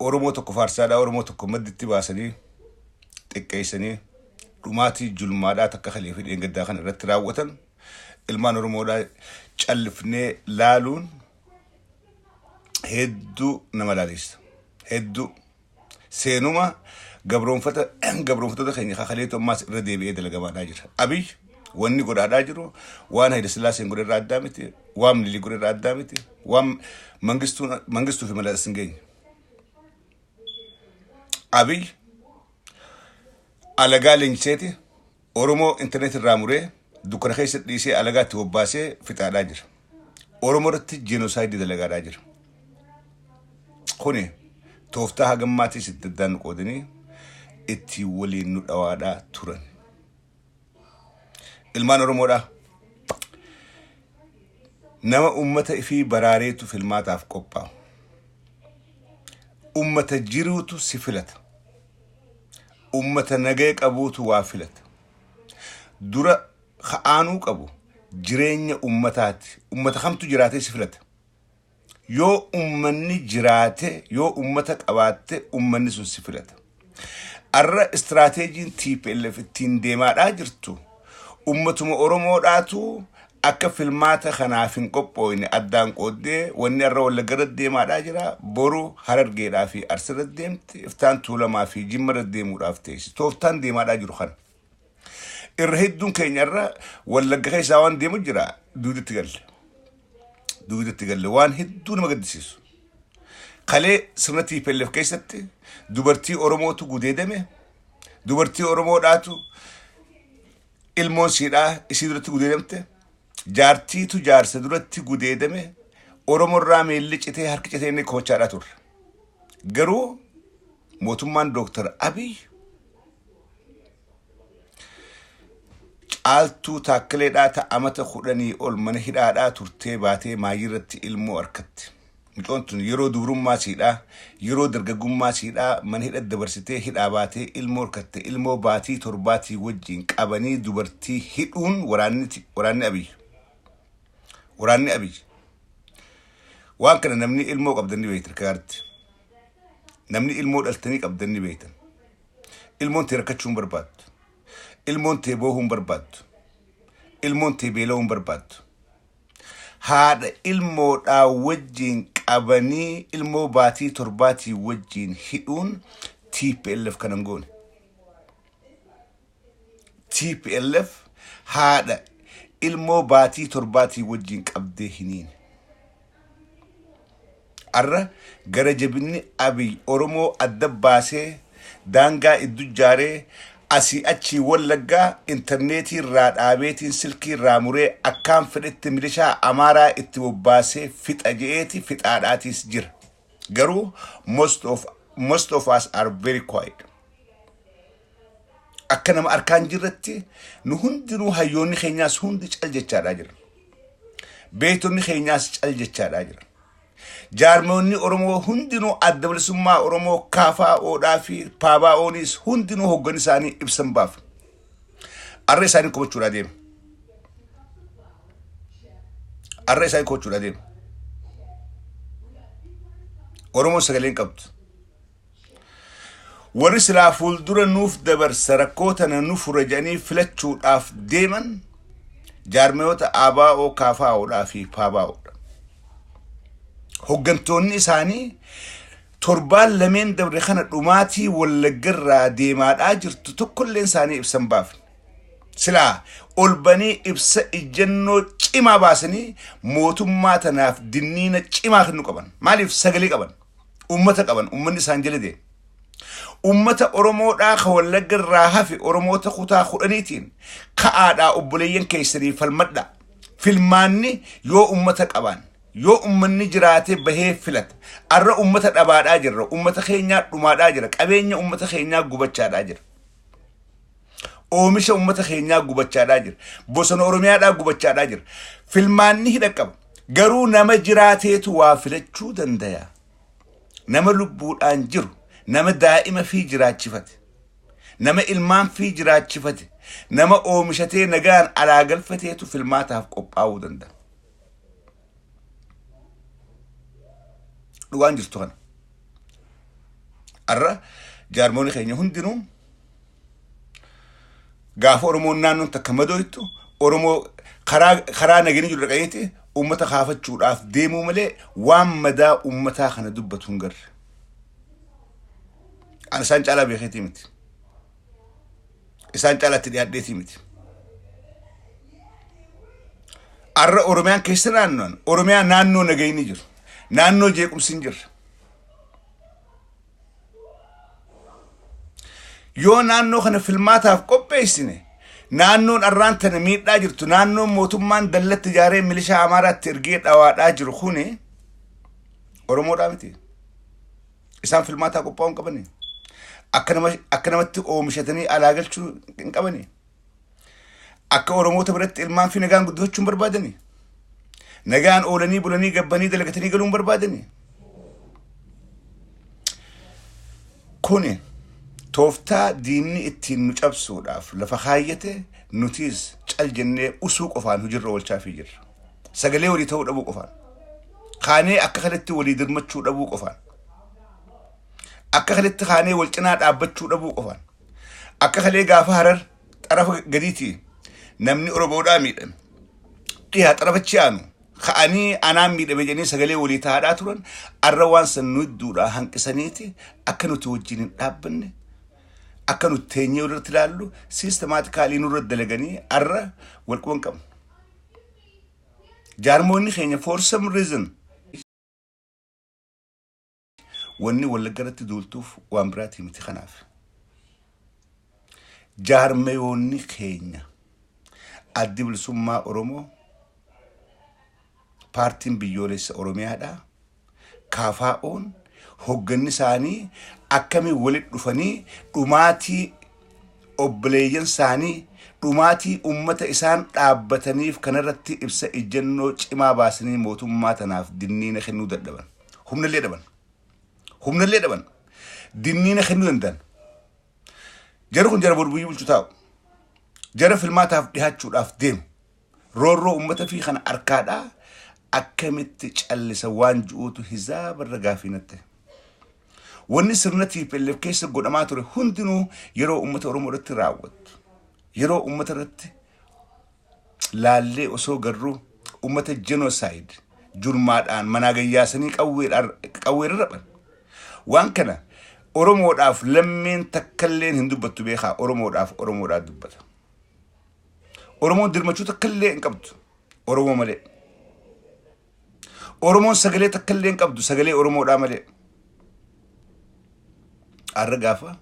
Oromoo tokko faarsaadhaa Oromoo tokko madditti baasanii xiqqeessanii dhumaatii julmaadhaa takka kalee fi dheengaddaa kana irratti raawwatan ilmaan Oromoodhaa callifnee laaluun hedduu nama laaleessa. Hedduu seenuma gabroonfata gabroonfattoota keenya kakaleetu ammaas irra deebi'ee dalagamaadhaa jira. Abiy Wanni godhaadhaa jiru waan Hayila Sillaaseen godhe irraa addaa miti, waan Minilik godhe irraa addaa miti, waan Mangistuu Mangistuu fi Malas hin geenye. Abiy alagaa leenjiseeti Oromoo intarneetii irraa muree dukkana keessa dhiisee alagaa itti bobbaasee fixaadhaa jira. Oromoo irratti jeenoosaayidii dalagaadhaa jira. Kuni tooftaa hagammaatis itti addaan nu qoodanii itti waliin nu dhawaadhaa turan. Ilmaan Oromoodha. Nama ummata ifii baraareetu filmaataaf qophaa'u. Ummata jiruutu si filata. Ummata nagaya qabuutu waa filata. Dura ka'aanuu qabu jireenya ummataati. Ummata kamtu jiraatee si filata. Yoo ummanni jiraate, yoo ummata qabaatte ummanni sun si filata. Arra istiraateejiin tplf ittiin deemaadhaa jirtu ummatuma Oromoodhaatu akka filmaata kanaaf hin qophooyne addaan qooddee wanni arra Wallagga irratti deemaadhaa jira boru Harargeedhaa fi Arsi irratti deemti iftaan Tuulamaa fi Jimma irratti deemuudhaaf teessi. Tooftaan deemaadhaa jiru kana. irra hedduun keenya irra wallagga keessaa waan deemu jira duudatti galle duudatti galle waan hedduu nama gaddisiisu kalee sirna TPLF keessatti dubartii Oromootu gudeedame dubartii Oromoodhaatu ilmoon siidhaa isii duratti gudeedamte jaartiitu jaarsa duratti gudeedame Oromorraa miilli citee harki citee inni koochaadhaa turre garuu Mootummaan Dooktar Abiy caaltuu taakkileedhaa ta amata kudhanii ol mana hidhaadhaa turtee baatee maayirratti ilmoo harkatti. Mucoon tun yeroo dubrummaa siidhaa, yeroo dargaggummaa siidhaa mana hidha dabarsitee hidhaa baatee ilmoo harkatte ilmoo baatii torbaatii wajjin qabanii dubartii hidhuun waraanni ti- waraanni Abiy. Waraanni Abiy. Waan kana namni ilmoo qabdan ni beekti akka gaaritti. Namni ilmoo dhaltanii qabdan ni beektan. Ilmoon tee rakkachuu hin barbaaddu. Ilmoon tee boohuu hin barbaaddu. Ilmoon tee beela'uu hin barbaaddu. Haadha ilmoodhaa wajjin qabanii ilmoo baatii torbaatii wajjin hidhuun TPLF kanan goone. tplf haadha ilmoo baatii torbaatii wajjin qabdee hiniin arra gara jabinni abiy oromoo adda baasee daangaa iddu jaaree asii achii wallaggaa intarneetii irraa dhaabeetiin silkii irraa muree akkaan fedhetti milishaa amaaraa itti bobbaasee fixa je'eeti fixaadhaatiis jira Garuu most of most of us are very quiet. Akka nama arkaan jirratti nu hundinuu hayyoonni keenyaas hundi cal jechaadhaa jira. Beektonni keenyaas cal jechaadhaa jira. Jaarmoonni Oromoo hundinuu adda bilisummaa Oromoo kaafaa oodhaa fi paabaa ooniis hundinuu hoggan isaanii ibsan baaf. Arra isaanii komachuudhaa deema. Arra isaanii komachuudhaa deema. Oromoon sagalee hin qabdu. Warri silaa fuuldura nuuf dabarsa rakkoo tana nu fura jedhanii filachuudhaaf deeman jaarmayoota ABO, KFOdhaa fi PABOdha. Hoggantoonni isaanii Torbaan lameen dabre kana dhumaatii Wallaggarraa deemaadhaa jirtu tokkolleen isaanii ibsan baafne. Silaa ol banii ibsa ijjannoo cimaa baasanii mootummaa tanaaf dinniina cimaa kennu qaban. Maaliif sagalee qaban? Uummata qaban, uummanni isaan jala deema. Uummata Oromoodhaa ka Wallagga irraa hafe Oromoota kutaa kudhaniitiin ka'aadhaa obboleeyyan keessanii falmadhaa. Filmaanni yoo uummata qabaanne, Yoo ummanni jiraatee bahee filate. Arra ummata dhabaadhaa jirra. Ummata keenyaa dhumaadhaa jira. Qabeenya ummata keenyaa gubachaadhaa jira. Oomisha ummata keenyaa gubachaadhaa jira. Bosona Oromiyaadhaa gubachaadhaa jira. Filmaanni hidha qaba. Garuu nama jiraateetu waa filachuu dandaya. Nama lubbuudhaan jiru. Nama daa'ima fi jiraachifate. Nama ilmaan fi jiraachifate. Nama oomishatee nagaan alaa galfateetu filmaataaf qophaa'uu danda'a. dhugaan jirtu kana har'a jaarmoonni keenya hundinuu gaafa oromoon naannoon takka madooytu oromoo karaa karaa nageenyi jiru dhaqaniiti uummata kaafachuudhaaf deemuu malee waan madaa uummataa kana dubbatu hin garre. Ani isaan caalaa beekeetii miti. isaan caalaatti dhiyaadheetii miti. Arra Oromiyaan keessa naannoon Oromiyaa naannoo nagayni jiru. Naannoo jeequmsi hin jirre. Yoo naannoo kana filmaataaf qopheessine naannoon arraan tana miidhaa jirtu naannoon mootummaan dallatti ijaaree milishaa Amaaraatti ergee dhawaadhaa jiru kuni Oromoodhaa miti. Isaan filmaataa qophaa'uu hin qabani. Akka nama akka namatti oomishatanii alaa galchuu hin qabani. Akka Oromoota biratti ilmaan fi nagaan guddifachuu hin barbaadani. Nagaan oolanii bulanii gabbanii dalagatanii galuu hin barbaadani. Kuni tooftaa diinni ittiin nu cabsuudhaaf lafa kaayyate nutiis cal jennee usuu qofaan hojiirra oolchaafii jirra. sagalee walii ta'uu dhabuu qofaan kaanee akka kanatti walii dirmachuu dhabuu qofaan akka kanatti kaanee wal cinaa dhaabbachuu dhabuu qofaan akka kalee gaafa harar xarafa gadiitii namni oromoodhaa miidhame dhiyaa xarafachi aanu ka'anii anaan miidhame jedhanii sagalee walii ta'aadhaa turan arra waan san nu hedduudhaa hanqisaniiti akka nuti wajjin hin dhaabbanne akka nuti teenyee irratti ilaallu siistemaatikaalii nurra dalaganii arra wal quban qabna. Jaarmoonni keenya for some reason wanni wallagga irratti duultuuf waan biraatii miti kanaaf. Jaarmayoonni keenya addi bilisummaa Oromoo paartiin biyyoolessa Oromiyaadhaa. KFOn hogganni isaanii akkamiin walitti dhufanii dhumaatii obboleeyyan isaanii dhumaatii ummata isaan dhaabbataniif kanarratti ibsa ijjannoo cimaa baasanii mootummaa tanaaf dinniina kennuu dadhaban. Humnallee dhaban. Humnallee dhaban. Dinniina kennuu danda'an. Jara kun jara boru biyya bulchu taa'u. Jara filmaataaf dhihaachuudhaaf deemu. Roorroo ummata fi kana arkaadhaa akkamitti callisa waan ju'uutu hizaaba irra gaafii natte. Wanni sirna TPLF keessa godhamaa ture hundinuu yeroo ummata Oromoo irratti raawwattu. Yeroo ummata irratti laallee osoo garruu ummata genocide jurmaadhaan manaa gayyaasanii qawweedhaan qawweerra raphan. Waan kana Oromoodhaaf lammeen takkalleen hin dubbattu beekaa Oromoodhaaf Oromoodhaa dubbata. Oromoon dirmachuu takka illee hin qabdu. Oromoo malee. Oromoon sagalee takka illee hin qabdu. Sagalee Oromoodhaa malee. Har'a gaafa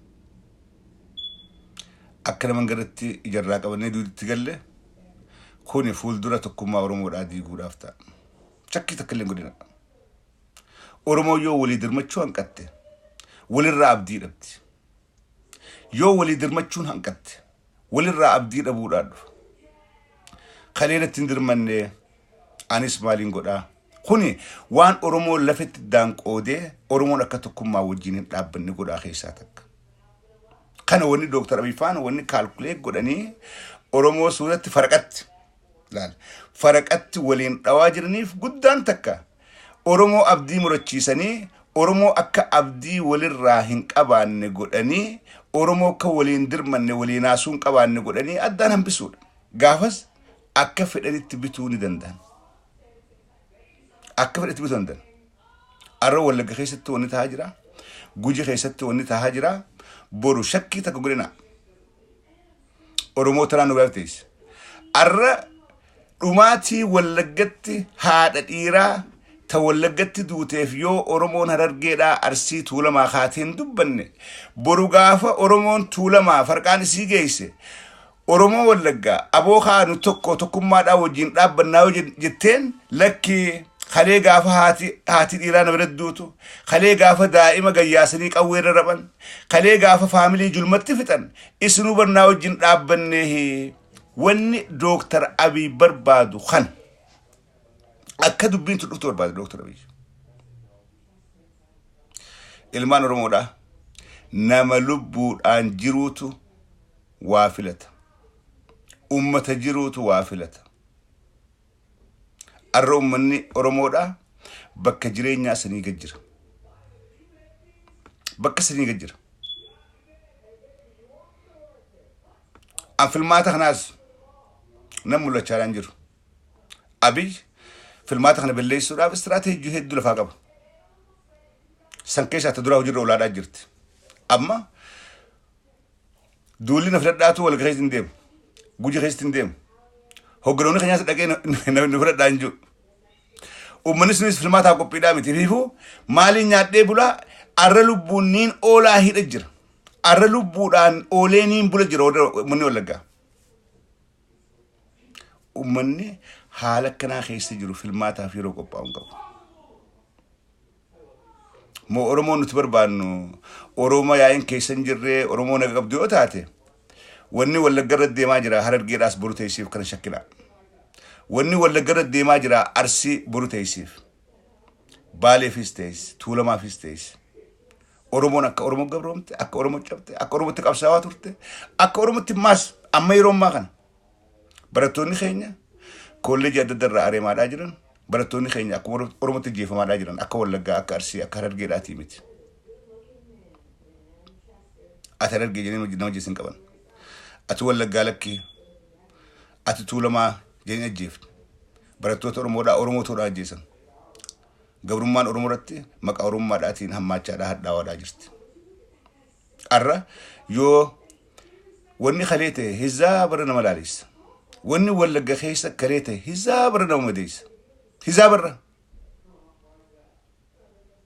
akka naman garratti ijarraa qabannee duuditti galle kuni fuuldura tokkummaa Oromoodhaa diiguudhaaf ta'a. Shakkii takka illee hin godhina. Oromoo yoo walii dirmachuu hanqatte walirraa abdii dhabdi. Yoo walii dirmachuun hanqatte, walirraa abdii dhabuudhaa dhufa. Kalee natti hin dirmanne, anis maaliin godhaa? Kuni waan Oromoo lafetti iddaan qoodee Oromoon akka tokkummaa wajjin hin dhaabbanne godhaa keessaa takka. Kana wanni Dooktar Abiy faana wanni kaalkuleet godhanii Oromoo suuratti faraqatti. laal. faraqatti waliin dhawaa jiraniif guddaan takka Oromoo abdii murachiisanii, Oromoo akka abdii walirraa hin qabaanne godhanii, Oromoo akka walii hin dirmanne, walii naasuu hin qabaanne godhanii addaan hambisuudha. Gaafas akka fedhanitti bituu ni danda'an. Akka fedhanitti bituu ni danda'an. Arra wallagga keessatti wanni tahaa jira. Guji keessatti wanni tahaa jira. Boru shakkii takka godhina. Oromoo tanaan nu galteessa. Arra dhumaatii wallaggatti haadha dhiiraa ta wallaggatti duuteef yoo Oromoon harargeedhaa arsii tuulamaa kaatee hin dubbanne boru gaafa Oromoon tuulamaa farqaan isii geesse Oromoo Wallaggaa, abo kaa nu tokko tokkummaadhaan wajjin dhaabbannaa yoo jetteen, lakki kalee gaafa haati haati dhiiraa na biratti duutu, kalee gaafa daa'ima gad yaasanii qawwee irra raphan, kalee gaafa faamilii julmatti fixan isinuu bar naa wajjin dhaabbanneehi. Wanni Dooktar Abiy barbaadu kana. Akka dubbiin tun dhuftu barbaada Dooktar Abiy. Ilmaan Oromoodhaa nama lubbuudhaan jiruutu waa filata. Uummata jiruutu waa filata. Arra uummanni Oromoodha bakka jireenyaa sanii gad jira. Bakka sanii gad jira. An filmaata kanaas nan mul'achaadhaan jiru. Abiy filmaata kana balleessuudhaaf istiraateejii hedduu lafaa qaba. San keessaa ta duraa hojiirra olaadhaa jirti. Amma Duulli na fudhadhaatu wal keessa hin deemu. Guji keessatti hin deemu. Hogganoonni keenyaas dhaqee na- na na fudhadhaa hin jiru. Uummanni sunis filmaataa qophiidhaa miti. Fiifuu maaliin nyaadhee bulaa arra lubbuun niin oolaa hidha jira. Arra lubbuudhaan oolee niin bula jira warra uummanni wallaggaa. Uummanni haala akkanaa keessa jiru filmaataaf yeroo qophaa'u hin qabu. Moo Oromoo nuti barbaannu Oromoo yaa'iin keessa hin jirree Oromoo naga qabdu yoo taate wanni wallagga irra deemaa jira harargeedhaas boru teessiif kana shakkina. Wanni wallagga irra deemaa jira arsii boru teessiif. Baaleefis teessi tuulamaafis teessi. Oromoon akka Oromoo gabroomte, akka Oromoo cabte, akka Oromootti qabsaawaa turte, akka Oromootti maas amma yeroo ammaa kana Barattoonni keenya koolleejii adda addarraa areemaadhaa jiran barattoonni keenya akkuma Oromootti ajjeefamaadhaa jiran akka Wallaggaa akka Arsii akka Harargeedhaatii miti. Ati Harargee jedhanii nama jeessan qaban. Ati Wallaggaa lakkii ati Tuulamaa jedhanii ajjeefte. Barattoota Oromoodhaa Oromootoodhaa ajjeesan. Gabrummaan Oromoo irratti maqaa Oromummaadhaatiin hammaachaadhaa hadhaawaadhaa jirti. Arra yoo wanni kalee ta'e hizaa bara nama laalessa. Wanni wallagga keessa kalee ta'e hizaa bara nama madeessa. Hizaa barra.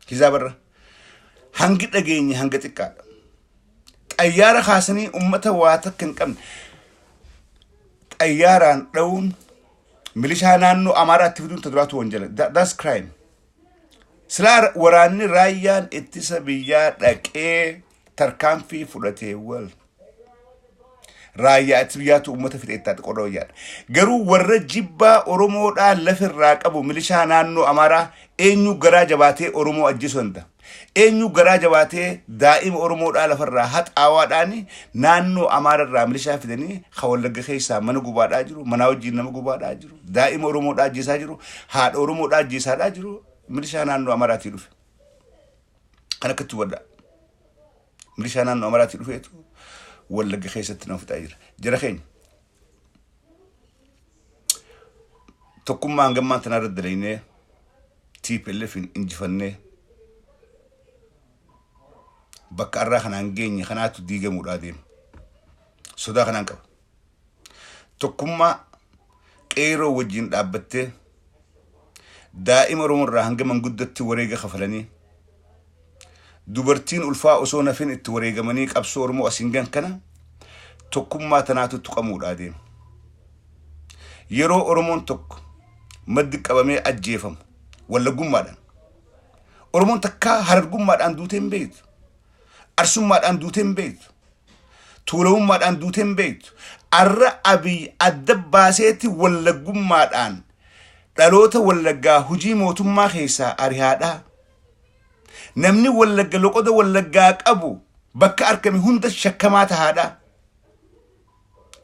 Hizaa barra. Hangi dhageenye hanga xiqqaadha. Xayyaara kaasanii ummata waa takka hin qabne xayyaaraan dha'uun milishaa naannoo Amaaraatti fiduun ta duraatu wanjala. Tha- That's crime. Silaa waraanni raayyaan ittisa biyyaa dhaqee tarkaanfii fudhatee wal raayyaa ittisa biyyaatu uummata fixee itti haati qorra wayyaadha. Garuu warra jibbaa Oromoodhaa lafirraa qabu milishaa naannoo Amaaraa eenyu garaa jabaatee Oromoo ajjeesuu danda'a. Eenyu garaa jabaatee daa'ima Oromoodhaa lafarraa haxaawaadhaan naannoo Amaararraa milishaa fidanii ka wallagga keessaa mana gubaadhaa jiru manaa wajjin nama gubaadhaa jiru. Daa'ima Oromoodhaa ajjeesaa jiru, haadha Oromoodhaa ajjeesaadhaa jiru, milishaa naannoo Amaraatii dhufe. Kan akkatti hubadhaa. Milishaa naannoo Amaraatii dhufeetu Wallagga keessatti nama fixaa jira. Jara keenya. Tokkummaa hangammaan tanaa irratti dalaynee TPLF hin injifannee bakka arraa kanaan geenye kanaatu diigamuudhaa deema. Sodaa kanaan qaba. tokkummaa qeeroo wajjin dhaabbattee daa'ima Oromoo irraa hanga manguddatti wareega kafalanii dubartiin ulfaa osoo nafin itti wareegamanii qabsoo Oromoo asiin gan kana tokkummaa tanaatu tuqamuudhaa deema. Yeroo Oromoon tokko maddi qabamee ajjeefamu wallagummaadhaan Oromoon takkaa harargummaadhaan duutee hin beektu. Arsummaadhaan duutee hin beektu. Tuulamummaadhaan duutee hin beektu. Arra Abiy adda baaseetti wallaggummaadhaan dhaloota wallaggaa hujii mootummaa keessaa arihaadhaa. Namni wallagga loqoda wallaggaa qabu bakka argame hunda shakkamaa tahaadhaa.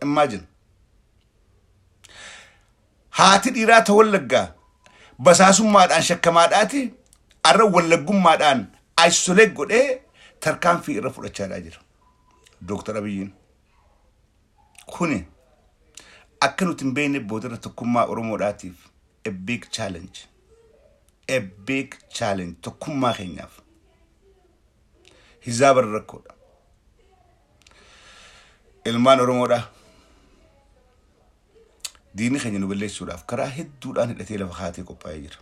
Imagine. Haati dhiiraa ta Wallaggaa basaasummaadhaan shakkamaadhaati arra Wallaggummaadhaan isolate godhee tarkaanfii irra fudhachaadhaa jira. Dooktar Abiyyiin. Kuni akka nuti hin beekne boodarra tokkummaa Oromoodhaatiif a big challenge. A big challenge tokkummaa keenyaaf. Hizaa bara rakkoodha. Ilmaan Oromoodhaa. diinni keenya nu balleessuudhaaf karaa hedduudhaan hidhatee lafa kaatee qophaa'ee jira.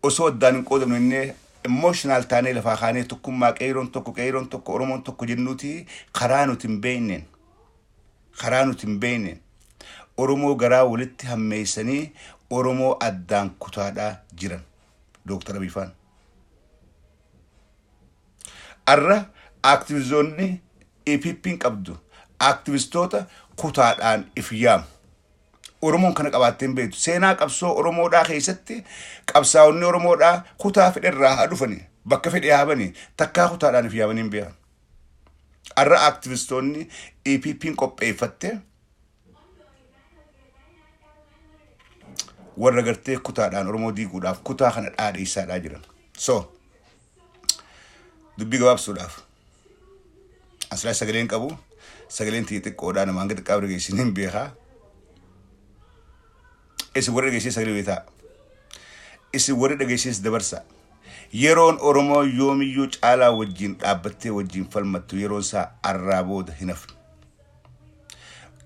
Osoo addaan hin qoodamne innee emotional taanee lafaa kaanee tokkummaa qeeyroon tokko qeeyroon tokko Oromoon tokko jennuuti karaa nuti hin beekneen karaa nuti hin beekneen Oromoo garaa walitti hammeessanii Oromoo addaan kutaadhaa jiran. Dooktar Abiifaan. Har'a Aaktivizoonni EPPn qabdu Aaktivistoota kutaadhaan if yaamu. Oromoon kana qabaattee hin beektu. Seenaa qabsoo Oromoodhaa keessatti qabsaa'onni Oromoodhaa kutaa fedherraa haa dhufani bakka fedhee haa bani takkaa kutaadhaan if yaamanii hin beekan. Har'a Aaktivistoonni EPPn qopheeffatte warra gartee kutaadhaan Oromoo diiguudhaaf kutaa kana dhaadheessaadhaa jiran. So, dubbii gabaabsuudhaaf asirraa sagaleen qabu sagaleen tiyya xiqqoodhaa nama hanga xiqqaa warra geessin hin beekaa. Isin warra geessin sagalee beetaa. Isin warra dhageessis dabarsa. Yeroon Oromoo yoomiyyuu caalaa wajjin dhaabbattee wajjin falmattu yeroon isaa arraa booda hin hafne.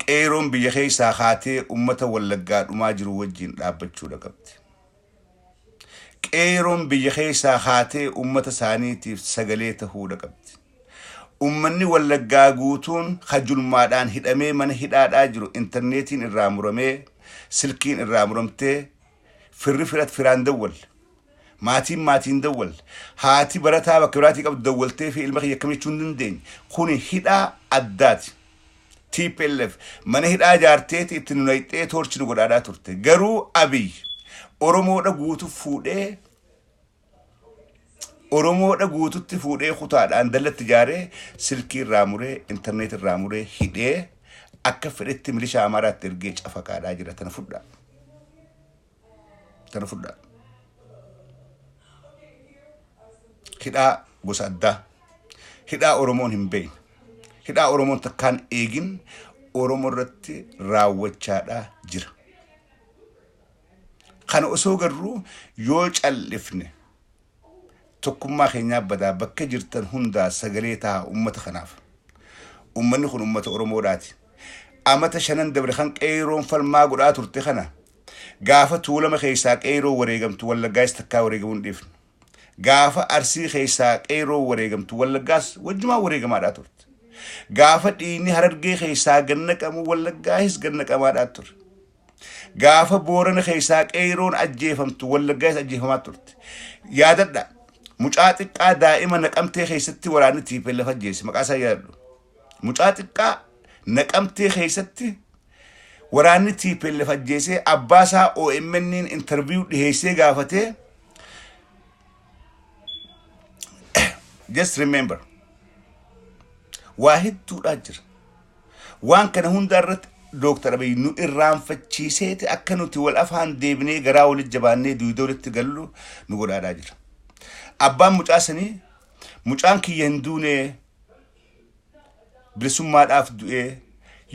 Qeeyroon biyya keessaa kaatee ummata Wallaggaa dhumaa jiru wajjiin dhaabbachuudha qabdi. Qeeyroon biyya keessaa kaatee ummata isaaniitiif sagalee tahuudha qabdi. Ummanni Wallaggaa guutuun ka julmaadhaan hidhamee mana hidhaadhaa jiru interneetiin irraa muramee, silkiin irraa muramtee, firri firat firaan dawwalle. Maatiin maatii hin dawwalle. Haati barataa bakka biraatii qabdu dawwalteefii ilma kiyya akkam jechuu hin dandeenye. Kuni hidhaa addaati. Tplf mana hidhaa ijaarteeti itti nu nayxee toorchi nu godhaadhaa turte. Garuu Abiy Oromoodha guutu fuudhee Oromoodha guututti fuudhee kutaadhaan dallatti ijaaree silkii irraa muree intarneet irraa muree hidhee akka fedhetti milishaa Amaaraatti ergee cafaqaadhaa jira tana fudhaa. Kana fudhaa. Hidhaa gosa addaa. Hidhaa Oromoon hin beekne. Hidhaa Oromoon takkaan eegin Oromoo irratti raawwachaadhaa jira. Kana osoo garruu yoo callifne Tokkummaa keenyaa badaa bakka jirtan hundaa sagalee tahaa ummata kanaaf. Ummanni kun ummata Oromoodhaati. Amata shanan dabre kan Qeeyroon falmaa godhaa turte kana gaafa Tuulama keessaa Qeeyroo wareegamtu Wallaggaayis takkaa wareegamuu hin dhiifnu. Gaafa Arsii keessaa Qeeyroo wareegamtu Wallaggaas wajjumaan wareegamaadhaa turte. Gaafa dhiigni Harargee keessaa gad naqamu Wallaggaahis gad naqamaadhaa ture. Gaafa Boorana keessaa qeeyroon ajjeefamtu Wallaggaas ajjeefamaa turte. Yaadadha. Mucaa xiqqaa daa'ima naqamtee keessatti waraanni tiipeellaf ajjeese maqaa isaa yaadadhu. Mucaa xiqqaa naqamtee keessatti waraanni tiipeellaf ajjeesee abbaa isaa OMN'n intarviiyuu dhiheessee gaafatee just remember waa hedduudhaa jira. Waan kana hundaa irratti Dooktar Abiy nu irraanfachiiseeti akka nuti wal afaan deebinee garaa walitti jabaannee duwidoo walitti gallu nu godhaadhaa jira. Abbaan mucaa sanii mucaan kiyya hin duunee bilisummaadhaaf du'ee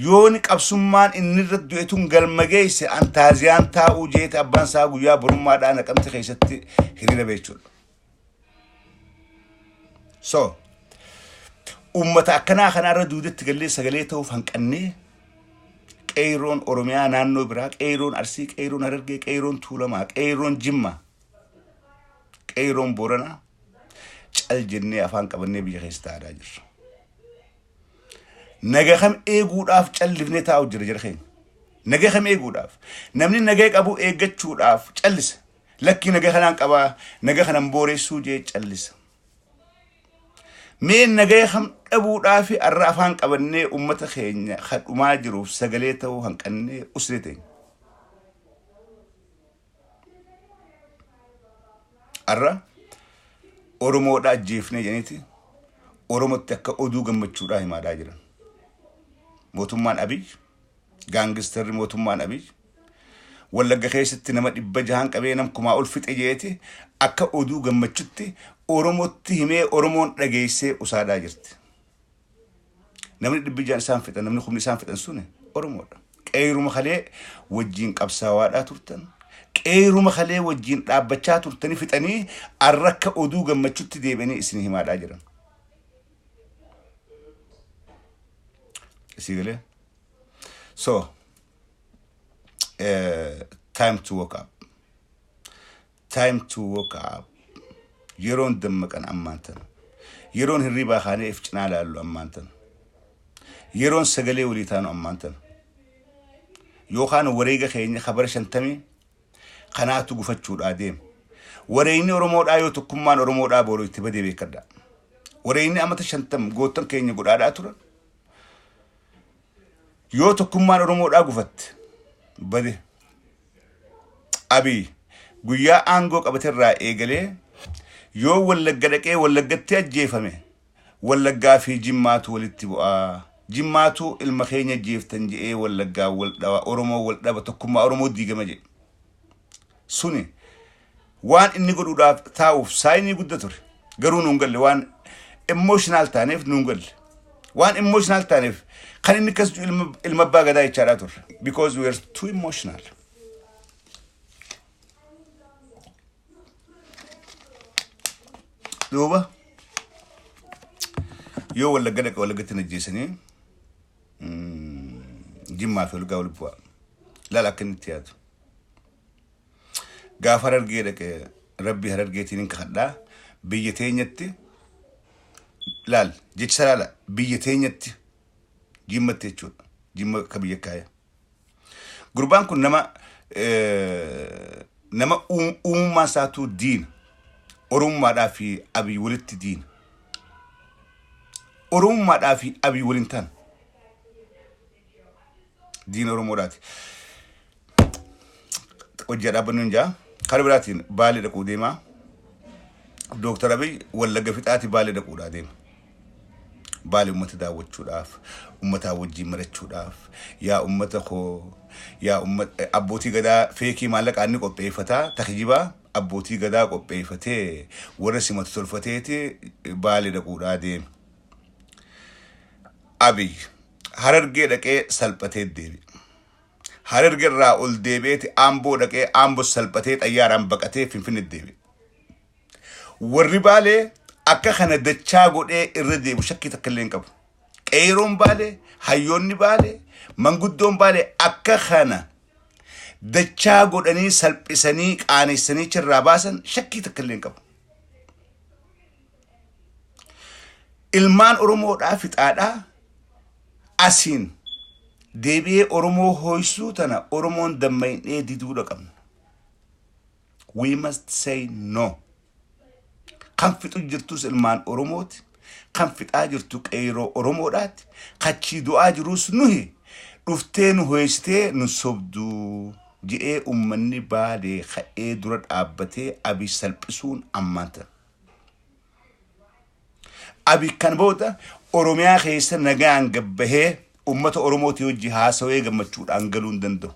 yooni qabsummaan inni irra du'e tun galma geesse antaaziyaan taa'uu jeete abbaan isaa guyyaa borummaadhaa naqamte keessatti hiriira beechuudha. so ummata akkanaa kanaarra duudatti gallee sagalee ta'uuf hanqannee qeeyroon oromiyaa naannoo biraa qeeyroon arsii qeeyroon harargee qeeyroon tuulamaa qeeyroon jimmaa qeeyroon booranaa cal jennee afaan qabannee biyya keessa taa'aa jirra naga kam eeguudhaaf callifnee taa'u jira jira keenya naga kam eeguudhaaf namni naga qabu eeggachuudhaaf callisa Lakki naga kanaan qaba naga kanan booressuu jee callisa. Mee nagaya kam dhabuudhaa fi arra afaan qabannee ummata keenya kadhumaa jiruuf sagalee ta'uu hanqannee usree teenya. Arra Oromoodhaa ajjeefnee jedhaniiti Oromotti akka oduu gammachuudhaa himaadhaa jiran. Mootummaan Abiy Gaangistarri mootummaan Abiy Wallagga keessatti nama dhibba jahaan qabee nam kumaa ol fixe jeeti akka oduu gammachutti Oromotti himee Oromoon dhageessee usaadaa jirti. Namni dhibbi jahan isaan fixan namni kumni isaan fixan suni Oromoodha. Qeeyruma kalee wajjiin qabsaawaadhaa turtan. Qeeyruma kalee wajjiin dhaabbachaa turtanii fixanii arrakka oduu gammachutti deebi'anii isin himaadhaa jiran. Is he there? So, uh, time to wake up. Time to wake up. Yeroon dammaqan ammaan tana. Yeroon hirribaa kaanee if cinaa laallu ammaan tana. Yeroon sagalee walii taanu ammaan tana. Yookaan wareega keenya kabara shantamii Kanaatu gufachuudhaa deema. Wareegni Oromoodhaa yoo tokkummaan Oromoodhaa booroo itti badee beekadha. Wareegni amata shantam goottan keenya godhaadhaa turan. Yoo tokkummaan Oromoodhaa gufatte bade. Abiy guyyaa aangoo qabaterraa eegalee yoo wallagga dhaqee wallaggatti ajjeefame Wallaggaa fi Jimmaatu walitti bu'a. Jimmaatu ilma keenya ajjeeftan jedhee Wallaggaan wal dhawa, Oromoon wal dhaba, tokkummaa Oromoo diigama jedhe. Suni waan inni godhuudhaaf taa'uuf saayinii gudda ture. Garuu nuun galle waan emotional taaneef nuun galle. Waan emotional taaneef kan inni akkas jedhu ilma, ilma abbaa gadaa jechaadhaa turre. Because we are too emotional. duuba yoo wallagga dhaqa wallaggatti hin ajjeesanii jimmaa fi olgaa wal bu'aa laala akka inni itti yaadu gaafa harargee dhaqe rabbii harargeetiin hin kakadhaa biyya teenyatti laal jecha laala biyya teenyatti jimmatti jechuudha jimma akka biyya kaaya Gurbaan kun nama nama uumummaa isaatuu diina. Oromummaadhaa fi abii walitti diina. Oromummaadhaa fi abii waliin taana. Diina Oromoodhaati. Hojjaa dhaabbannu hin jaa. Kan biraatiin baalee dhaquu deemaa. Dooktar Abiy wallagga fixaati baalee dhaquudhaa deema. Baale ummata daawwachuudhaaf, ummataa wajjiin marachuudhaaf, yaa ummata koo, yaa ummat abbootii gadaa feekii maallaqaa inni qopheeffata, ta kijibaa abbootii gadaa qopheeffatee warra simatu tolfateeti Baale dhaquudhaa deeme. Abiy Harargee dhaqee salphatee deebi'e. Hararge irraa ol deebi'eeti Amboo dhaqee Ambos salphatee xayyaaraan baqatee Finfinne deebi'e. Warri Baalee akka kana dachaa godhee irra deebu shakkii takka illee hin qabu. Qeeroon Baalee, hayyoonni Baalee, manguddoon Baalee akka kana dachaa godhanii salphisanii qaanessanii achirraa baasan shakkii takka illee hin qabu. Ilmaan Oromoodhaa fixaadhaa asiin deebi'ee Oromoo hooysuu tana Oromoon damma'innee diduudha qabna. we must say no kan fixu jirtus ilmaan oromooti kan fixaa jirtu qeeyroo oromoodhaati kachii du'aa jiruus nuhi dhuftee nu hoysitee nu sobduu je'ee ummanni baalee ka'ee dura dhaabbatee abiy salphisuun ammaanta Abi kan booda Oromiyaa keessa nagaan gabbahee uummata Oromootii hojii haasawee gammachuudhaan galuu hin danda'u.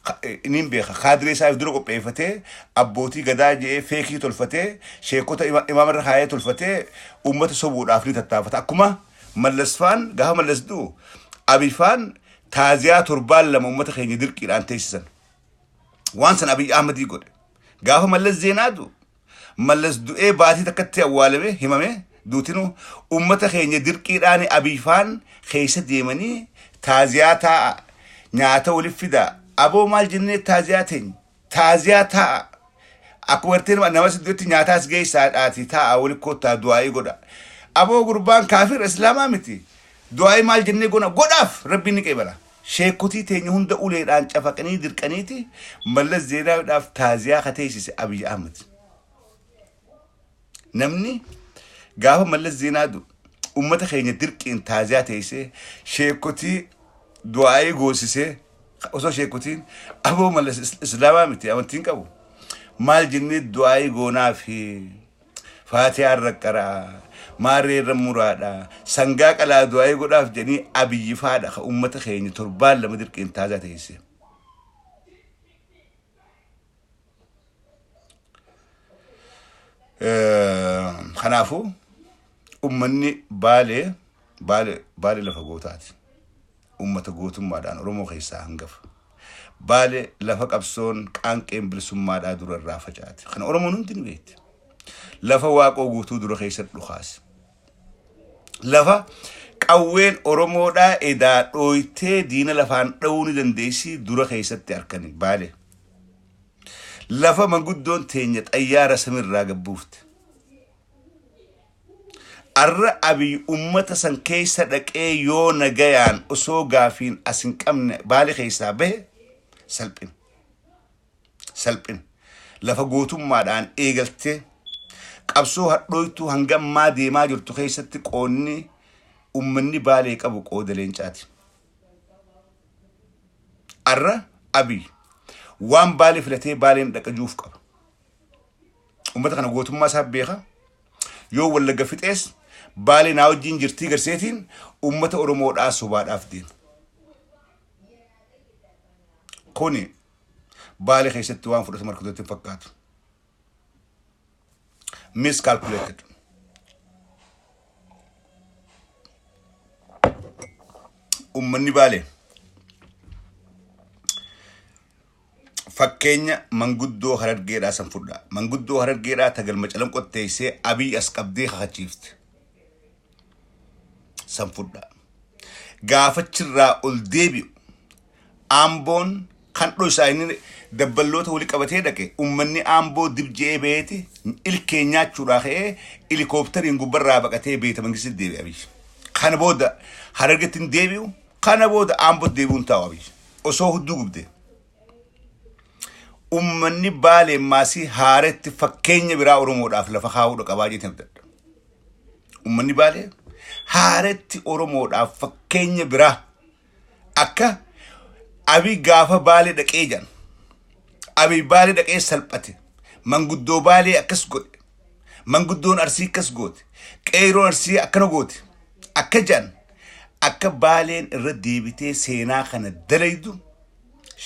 Ka- eh, Inni hin beeka. Kaadiree isaaf dura qopheeffatee abbootii gadaa je'ee feekii tolfatee sheekota ima- imaamarra kaayee tolfatee uummata sobuudhaaf ni tattaafata. Akkuma mallasfaan gaafa mallas du'u abifaan taaziyaa torbaan lama uummata keenya dirqiidhaan teessisan. Waan san Abiy Ahmadii godhe. Gaafa mallas zeenaa du'u Mallas du'ee baatii takkatti awwaalame himame duutinu ummata keenya dirqiidhaani Abiy faan keessa deemanii taaziyaa taa'a nyaata walif fidaa aboo maal jennee taaziyaa teeny taaziyaa taa'a akkuma gartee nama nama si du'etti nyaata as geessaa dhaati taa'a wali koottaa du'aa'ii godha aboo gurbaan kaafira islaamaa miti du'aa'ii maal jennee gona godhaaf rabbiin ni qeebala. Sheekkotii teenya hunda uleedhaan cafaqanii dirqaniiti Mallas Zeenaawiidhaaf taaziyaa ka teessise Abiy Ahmed. Namni gaafa Mallas Zeenaa du ummata keenya dirqiin taaziyaa teessee sheekkotii du'aayii goosisee osoo sheekkotiin aboo Mallas Islaamaa miti amantiin qabu maal jennee du'aayii goonaa fi Faatiyaan raqqaraa, maarree irra muraadha, sangaa qalaa du'aa'ii godhaaf jedhanii Abiyyi faadha ka ummata keenya torbaan lama dirqiin taazaa teesse. Kanaafuu ummanni baalee baale baale lafa gootaati ummata gootummaadhaan oromoo keessaa hangafa baale lafa qabsoon qaanqeen bilisummaadhaa dura irraa facaate kana oromoon hundi ni beekti lafa waaqoo guutuu dura keessa dhukaase lafa qawween oromoodhaa edaa dhooytee diina lafaan dha'uu ni dandeessii dura keessatti harkani baale lafa manguddoon teenya xayyaara samirraa gabbuufte Arra Abiy ummata san keessa dhaqee yoo nagayaan osoo gaafiin as hin qabne baale keessaa bahe salphina. Salphina. Lafa gootummaadhaan eegaltee qabsoo hadhooytuu hanga ammaa deemaa jirtu keessatti qoonni ummanni baalee qabu qooda leencaati. Arra Abiy waan baale filatee baaleen dhaqajuuf qaba. Uummata kana gootummaa isaa beeka. Yoo wallagga fixees baalee naa wajjin jirtii garseetiin uummata Oromoodhaa sobaadhaaf deema. Kuni baalee keessatti waan fudhatama argatutti hin fakkaatu. Miscalculated. Uummanni baalee. fakkeenya manguddoo harargeedhaa san fudhaa. Manguddoo harargeedhaa ta galma calanqotti teessee abiy as qabdee kakachiifte san fudhaa. Gaafachirraa ol deebi'u aamboon kan dhoysaa inni dabballoota wali qabatee dhaqe ummanni aamboo dib je'ee baheeti ilkee nyaachuudhaa ka'ee ilikooptariin gubbarraa baqatee beeta mangistitti deebi'e abiy. Kana booda harargetti hin deebi'u kana booda aambootti deebi'uun taa'u abiy. osoo hudduu gubde. Ummanni baalee maasii haaretti fakkeenya biraa Oromoodhaaf lafa kaa'uudha qabaa jeetiin abdadha. Ummanni baalee haaretti Oromoodhaaf fakkeenya biraa akka abi gaafa baalee dhaqee jedhan. Abi baalee dhaqee salphate. Manguddoo baalee akkas godhe. Manguddoon Arsii akkas goote. Qeeyroon Arsii akkana goote. Akka jedhan akka baaleen irra deebitee seenaa kana dalaydu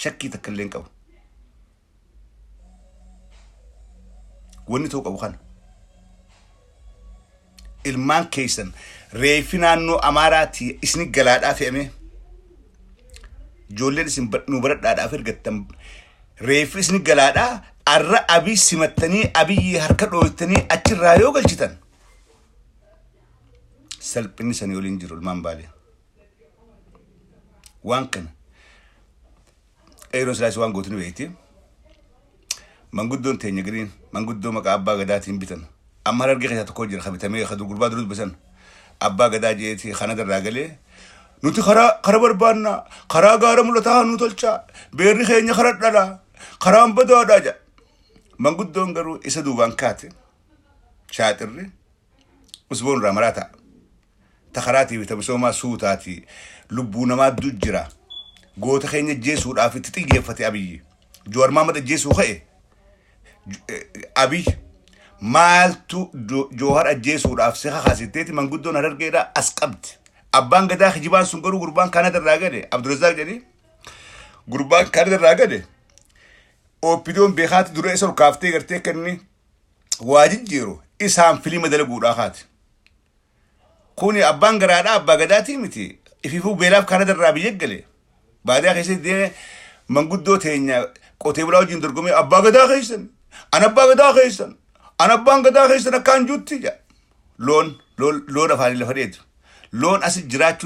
shakkii takka illee hin qabu. Wanni ta'uu qabu kana. Ilmaan keessan reeffi naannoo Amaaraatii isin galaadhaa fe'amee ijoolleen isin nu baradhaadhaaf ergattan Reeffi isin galaadha. Arra abii simattanii abiyyi harka dhooytanii achirraa yoo galchitan salphinni sanii waliin jiru ilmaan baalee. Waan kana qeerroon silaas waan gootin beekti. Manguddoon teenya giriin manguddoo maqaa abbaa gadaatiin bitan. Amma harargee keessaa tokko jira kan bitamee kan gurbaa dura dubbisan. Abbaa gadaa jeeti Kanada irraa galee Nuti karaa kara barbaanna, karaa gaara mul'ataa haa nuu tolchaa, beerri keenya kara dhala, karaan badaadha jedha. Manguddoon garuu isa duubaan kaate shaaxirri usboon irraa maraa ta'a. Ta karaatii fi ta misoomaa suutaatii lubbuu namaa du jira. Goota keenya jeesuudhaaf itti xiyyeeffate abiyyi. Joowar Maamad ajjeesuu ka'e. Abiy maaltu Joohar ajjeesuudhaaf si kakaasitteeti manguddoon harargeedha as qabdi. Abbaan gadaa kijibaan sun garuu gurbaan Kaanada irraa gale Abdurazaaq jedhee gurbaan Kaanada irraa gale OPDOn beekaatti dura isa ol kaaftee gartee akka inni waa jijjiiru isaan filima dalaguudhaa kaati. Kuni abbaan garaadhaa abbaa gadaatii miti ifiifuu beelaaf karaa darraa biyya eggale baadiyaa keessatti deeme manguddoo teenya qotee bulaa wajjin dorgomee abbaa gadaa keessan an abbaa gadaa keessan an abbaan gadaa keessan akkaan juutti jedha loon loon loon afaanii lafa dheedu loon asi jiraachuu